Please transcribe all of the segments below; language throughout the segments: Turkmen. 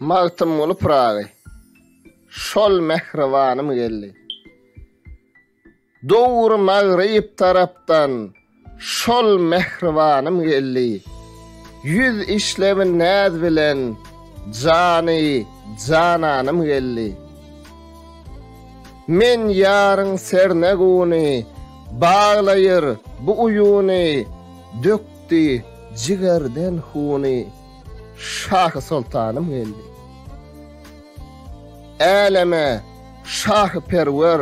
Magtymguly Pyragy Şol mähribanym geldi. Döwür magryp tarapdan Şol mähribanym geldi. Ýüz işlebin näz bilen Jany jananym geldi. Men ýaryň serne guny Baglaýyr bu uýuny Dökdüm Ötdi jigerden huny Şahy Soltanym geldi. Äleme şahy perwer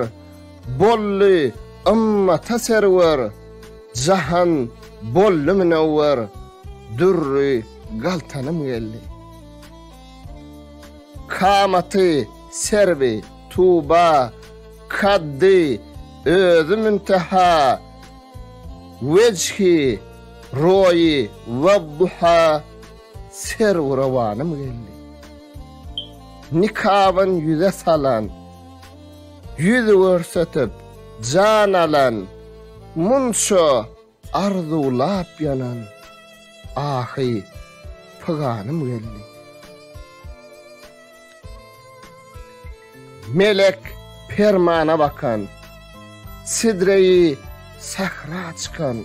Boldy ymmata serwer Jahan boldy münewwer Dürri galtanym geldi. Kamaty serwi tuba Kaddy özi münteha Wejhi, Roýi, Wadduha, Serwi rowanym geldi. Nikabyn ýüze salan, Ýüz görsetip, jan alan, Munça arzuwlap ýanan, Ahy, pyganym geldi. Melek permana bakan. Sidreýi sähra çykan.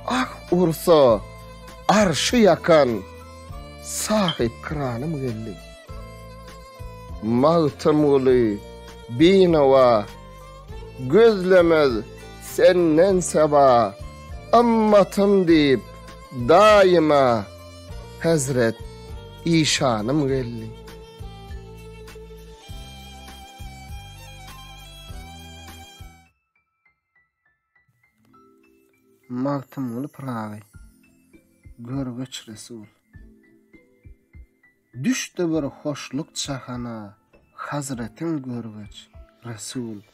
Ah ursa, arşy ýakan. Sahypkyranym geldi. Magtymguly, binawa. Gözlemez senden seba. Ymmatym diýip, daýyma. Hezret işanym geldi. Magtymguly Pyragy, Görgeç Resul. Düşdi bir hoşluk jahana, hazretin görgeç, Resul.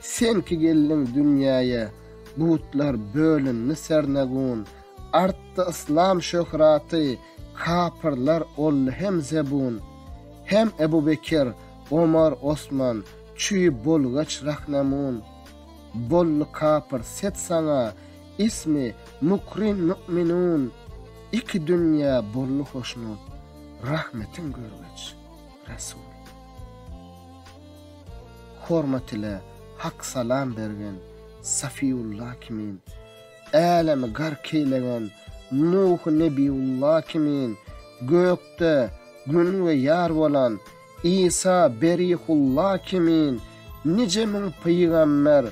Sen ki geldiň dünýäýe, butlar bölündi sernegun, Artdy yslam şöhraty, kapyrlar oldy hem zebun. Hem Ebu Bekir, Omar, Osman, çüý bolgaç rahnemun, Boldy kapyr set saňa, ismi mukrin mü'minun, Iki dünýä boldy hoşnut, rahmetiň görgeç. Resul. Hormat ile hak salam bergen Safiýulla kimin, älemi gark eýlegen Nuh Nebiýulla kimin, gökde Gün we Ýar bolan Isa Berihulla kimin, nije müň pygamber,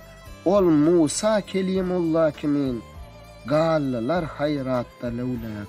ol Musa Kelimulla kimin, galdylar haýratda löwläp.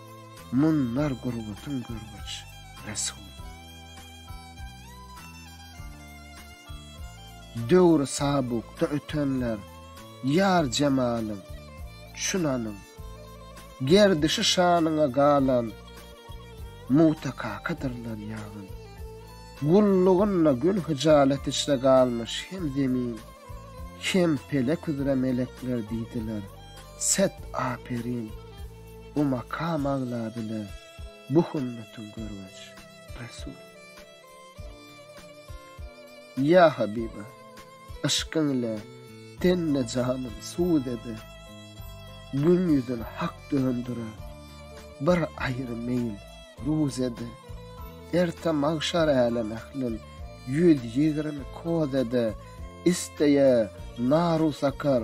Munlar gurbatyn görgüç, Resul. Döwri sabukda ötenler, Ýar jemalyň, çunanyň, Gerdişi şanyňa galan, Mugta kakadyrlar ýagyn. Gullugynda gün hyjalet içre galmyş hem zemin, hem pelek üzre melekler diýdiler, Set, aperin! Bu makam agladyna bu hümmetin görgüç, Resul. Ýa Habiba, yşkyň ile tenne janym sud ede, Gün ýüzün hak döndüre, bir aýry meýil ruz ede, Erte magşar älem ählin ýüz ýigrimi koz ede, Isteýe naru sakar,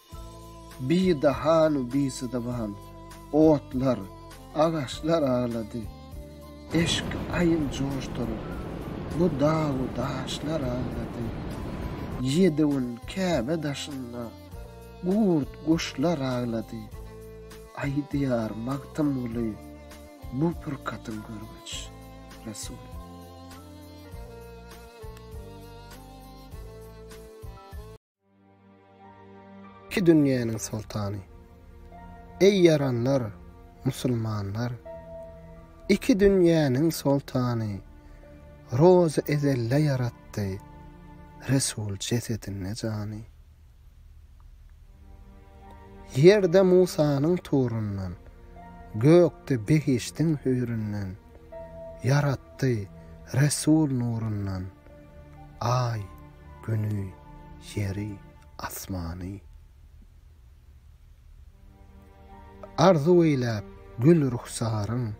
Bidahanu bisydyban otlar, agaçlar aglady. Eşki aýyl joşduryp, bu dagu daşlar aglady. Ýedi gün Käbe daşynda gurt guşlar aglady. Aýdýar Magtymguly bu purkatyň görgeç, Resul. Iki dünýäniň soltany. Eý ýaranlar, musulmanlar! Iki dünýäniň soltany Rozy ezelde ýaratdy Resul jesedinde jany. Ýerde Musanyň turundan, gökde behişdiň hüýründen, ýaratdy Resul nurundan. Aý, Güni, Ýeri, Asmany. Arzuw eýläp gül ruhsaryň,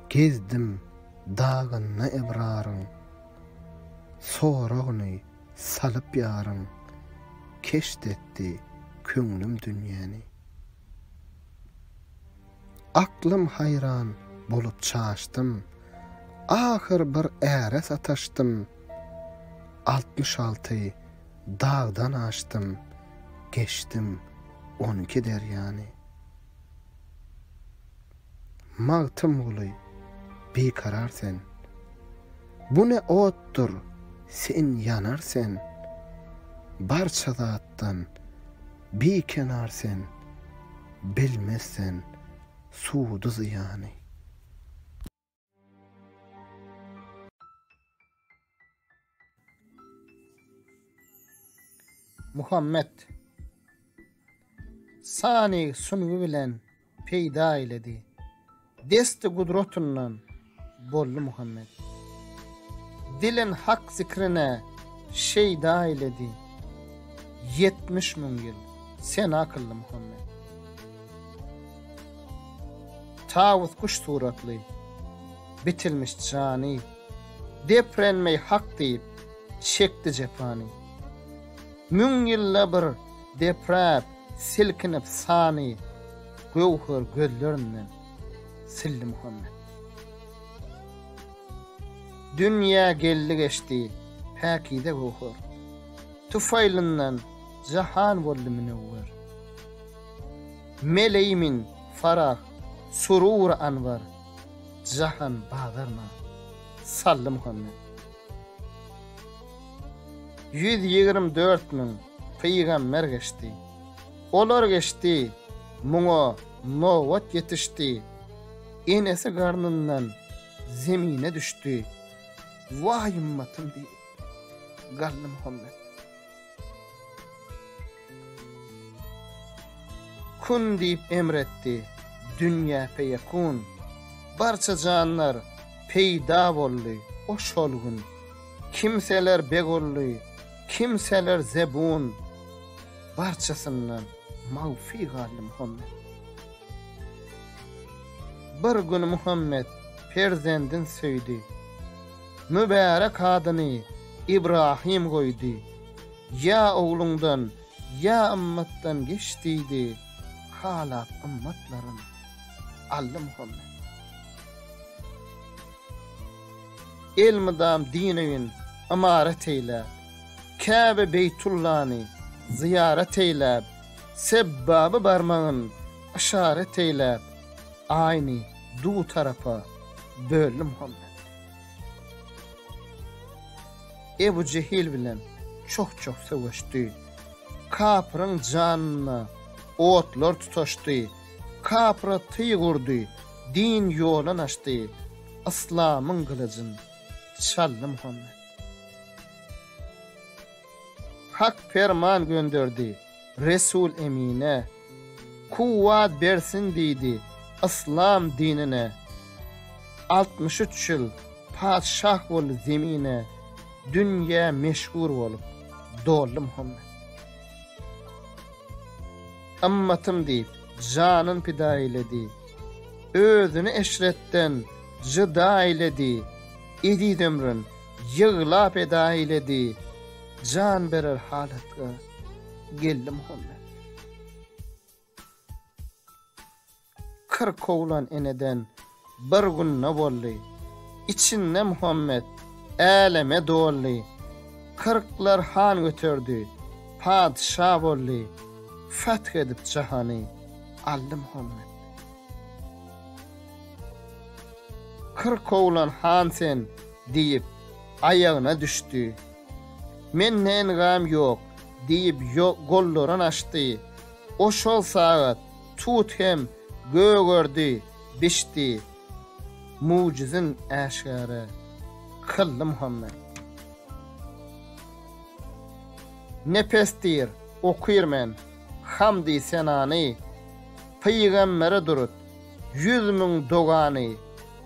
Gezdim dagynda ebraryň. Soragyny salyp ýaryň, Keşt etdi köňlüm dünýäni. Aklym haýran bolup çaşdym, Ahyr bir äre sataşdym. Altmyş alty dagdan aşdym, Geçdim on iki derýany. Magtymguly, bikarar sen. Bu ne otdur, sen ýanar sen, Barça zatdan bikenar sen. Bilmez sen sudy zyýany. Muhammet sany sungy bilen peýda eýledi. Desti gudratyndan boldy Muhammet. Dilin Hak zikrine şeýda eýledi. Ýetmiş müň ýyl sena kyldy Muhammet. Tawus guş suratly, bitilmiş jany, Deprenmeý Hak diýip, çekdi jepany. Müň ýylda bir depräp, Silkinip sany göwher gözlerinden sildi Muhammet. Dünýä geldi geçdi päkize göwher. Tufaýlyndan jahan boldy münewwer. Meleýmin farah surur anwar jahan bazaryna saldy Muhammet. Ýüz ýigrimi dört müň pygamber geçdi. Olar geçdi, muňa nobat ýetişdi. Enesi garnyndan zemine düşdi. Waý ymmatym diýip, Gallymuhammet. Kun diýip emr etdi, dünýä feýekun. Barça janlar peýda boldy o şol gün. Kimseler begully, kimseler zebun. Barçasyndan magfy galdy Muhammet. Bir gün Muhammet perzendin söýdi. Mübärek adyny Ibrahym goýdy. Ýa ogluňdan, ýa ymmatdan geç diýdi halap ymmatlaryn Allymuhammet. Elmydam din öýün ymarat eýläp, Käbe Beýtullany zyýarat eýläp, Sebbaba barmagyn yşarat eýläp, Aýny du tarapa böldi Muhammet. Ebu Jehil bilen çoh-çoh söweşdi. Kapyryň janyna otlar tutaşdy. Kapyra tyg urdy, din ýolan açdy. Yslamyň gylyjyn çaldy Muhammet. Hak perman gönderdi. Resul Emine, Kuwwat bersin diýdi Yslam dinine. Altmyş üç ýyl patyşah boldy zemine, Dünýä meşhur bolup, doldy Muhammet. Ymmatym diýip, janyn pida eýledi, Özüni eşretden jyda eýledi, Eziz ömrün ýyglap eda eýledi, Jan berer halatga. Geldim home. Kyrk oglan eneden bir günde boldy. Içinde Muhammet äleme doldy. Kyrklar han göterdi, patyşa boldy. Feth edip jahany aldy Muhammet. Kyrk oglan han sen diýip aýagyna düşdi. Men nängam ýok, diýip, Jo gollaryny açdy. O şol sagat tut hem gögerdi, bişdi. Mugjyzyn äşgäre kyldy Muhammet. Nepesdir, okyr men, hamdy senany, Pygambere durut, ýüz müň dogany,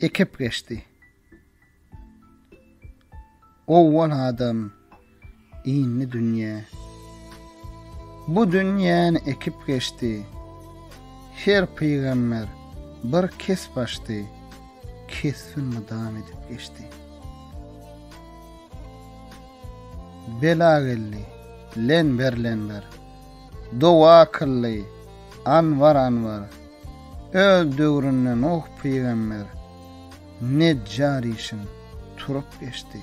Ekip geçdi. Owwal adam, indi dünýe. Bu dünýäni ekip geçdi. Her pygamber bir kesp açdy. Kesbin mydam edip geçdi. Bela geldi. Len ber len ber. Dowa kyldy, Anwar Anwar, öz döwründe Nuh pygamber, Nejjar işin turup geçdi.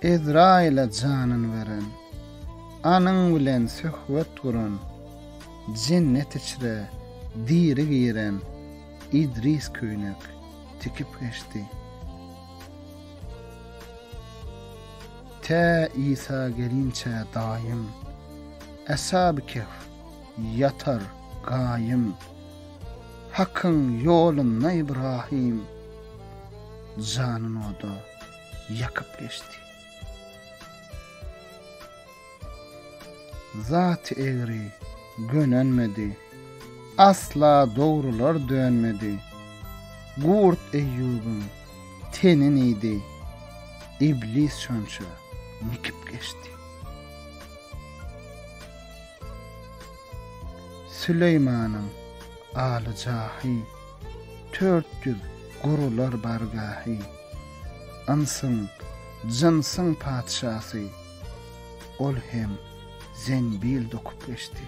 Ezraýyla janyn beren, anyň bilen söhbet guran, jennet içre diri giren Idris köýnek tikip geçdi. Tä Isa gelinçä daýym. Eshab-y Kehf, ýatar, gaýym. Hakyň ýolunda Ibrahym. Janyn oda ýakyp geçdi. Zat egri gönenmedi. Asla dogrular dönmedi. Gurt Eýýubyň Tenin iýdi. Iblis şonça nikip geçdi. Süleýmanyň aly jahy, Tört ýüz gurular bargahy. Ynsyň, jynsyň patyşasy, Ol hem zenbil dokup geçdi.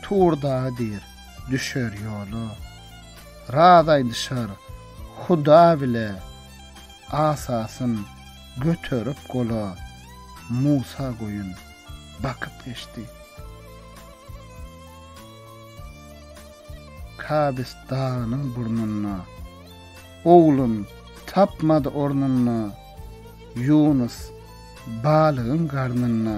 Tur dagy diýr, düşer ýola. Raz aýdyşar, Huda bile. Asasyn göterip gola. Musa goýun bakyp geçdi. Kabis dagynyň burnunda. Oglun tapmady ornunda. Ýunus balygyň garnynda.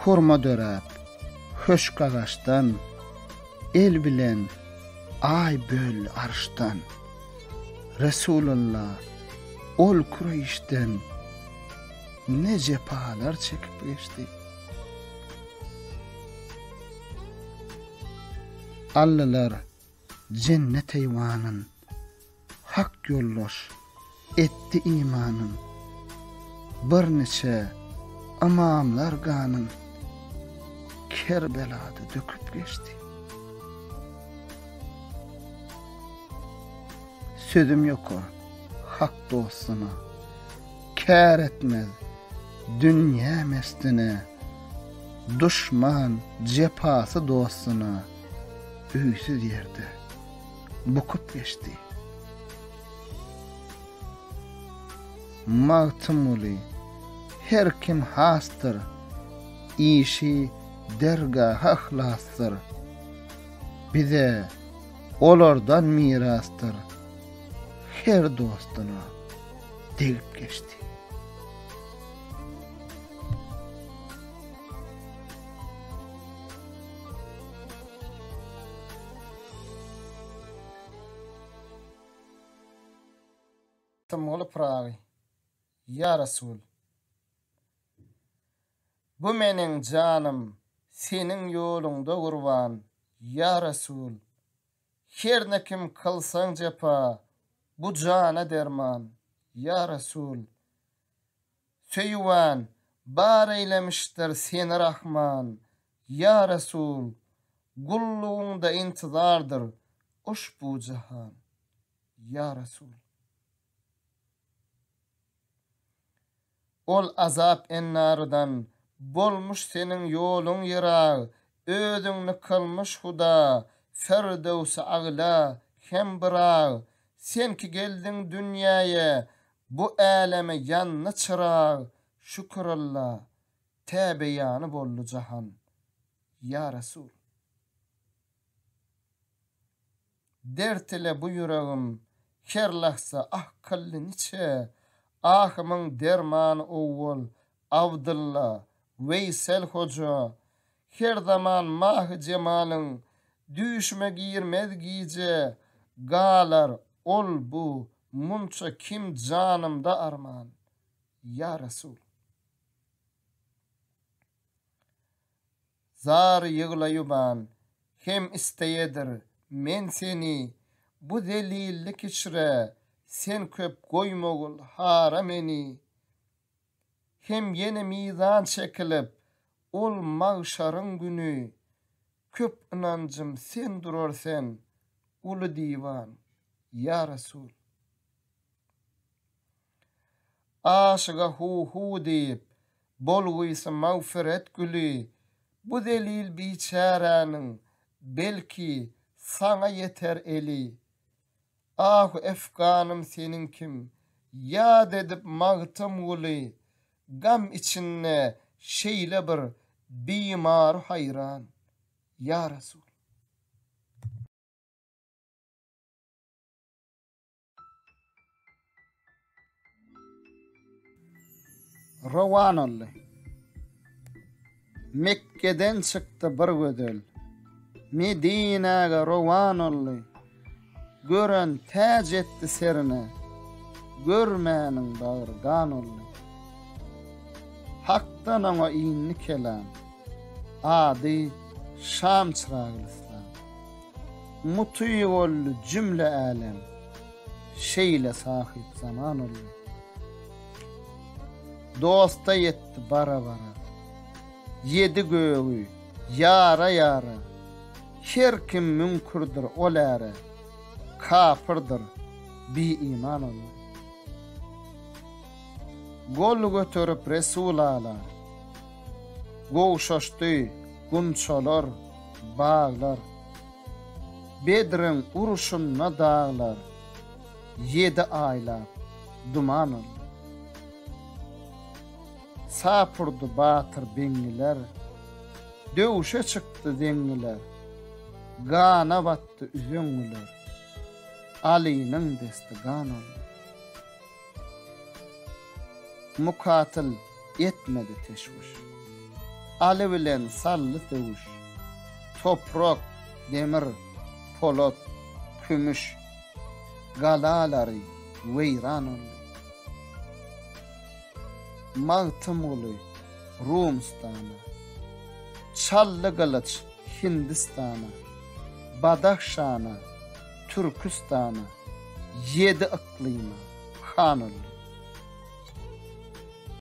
hurma döräp, höşk agaçdan, el bilen aý böldi arşdan. Resulalla ol Kureýşden ne jepalar çekip geçdi. Allylar jennet eýwanyn, Hak ýoldaş etdi imanyn. Bir niçe ymamlar ganyn. Kerbelada döküp geçdi. Sözüm ýoka hak dostuna. Kär etmez dünýä mestine. Duşman jepasy dostuna. Öýsüz ýerde. bukup geçdi. Magtymguly, her kim hasdyr, işi dergaha hlasdyr. Bize olardan mirasdyr, her dostuna degip geçdi. Symgyly Pyragy, ýa Resul! Bu meniň janym Seniň ýoluňda gurban, ýa Resul! Hernä kim kylsaň jepa, bu jana derman, ýa Resul! Söýüwan, bar eýlemişdir seni Rahman. Ýa Resul, gullugyňda intizardyr uşbu jahan. Ýa Resul. Ol azap ennarydan bolmuş seniň ýoluň ýyrag, özüňni kylmyş Huda, Firdöwsi-Agla hem Byrak. Sen ki geldiň dünýäýe, Bu äleme ýandy çyrag, şükür Alla, tä beýany boldy jahan. Ýa Resul! Dert ile bu ýüregim her lahza ah kyldy niçe, ahymyň dermany owwal Abdylla, Weýsel hoja, Her zaman mahy-jemalyň Düýşüme girmez gije Galar ol-bu munça kim Janymda arman, ýa Resul. Zar ýyglaýuban hem isleýedir Men seni bu zelillik içre Sen köp goýmagul hara meni hem ýene mizan çekilip, ol magşaryň güni köp ynanjym sen durar sen, uly diwan, ýa Resul. Aşyga hu-hu diýip, bolgysy magfyret güli bu zelil biçäräniň belki saňa ýeter eli. Ah Efganym seniň kim Ýad edip Magtymguly Gam içinde şeýle bir Bimary haýran Ýa Resul. Rowan oldy. Mekgeden çykdy bir gözel. Medinäge rowan oldy. Gören täc etdi serine. Görmäniň bagry gan oldy. Hakdan oňa indi kelam. Ady Şam çyragylyslam. Muty boldy jümle älem. Şeýle sahyp zaman olar. Dosta ýetdi bara-bara. Ýedi gögi ýara-ýara. Her kim müňkürdir ol äre. Kapyrdyr bi-iman olar. Gol göterip Resul Ala. Gowşaşdy gunçalar, baglar. Bedriň uruşynda daglar ýedi aýlap duman boldy. Sapurdy batyr beňňiler, döwüşe çykdy zeňňiler, gana batdy üzeňňiler, Alynyň desti gan oldy. Mukatyl etmedi teşwüş. Aly bilen saldy söwüş. Toprak, demir, polat, kümüş galalary weýran oldy. Magtymguly Rumystana, Çally gylyç Hindistana, Badahşana, Türküstana, ýedi yklyma, hanaldy.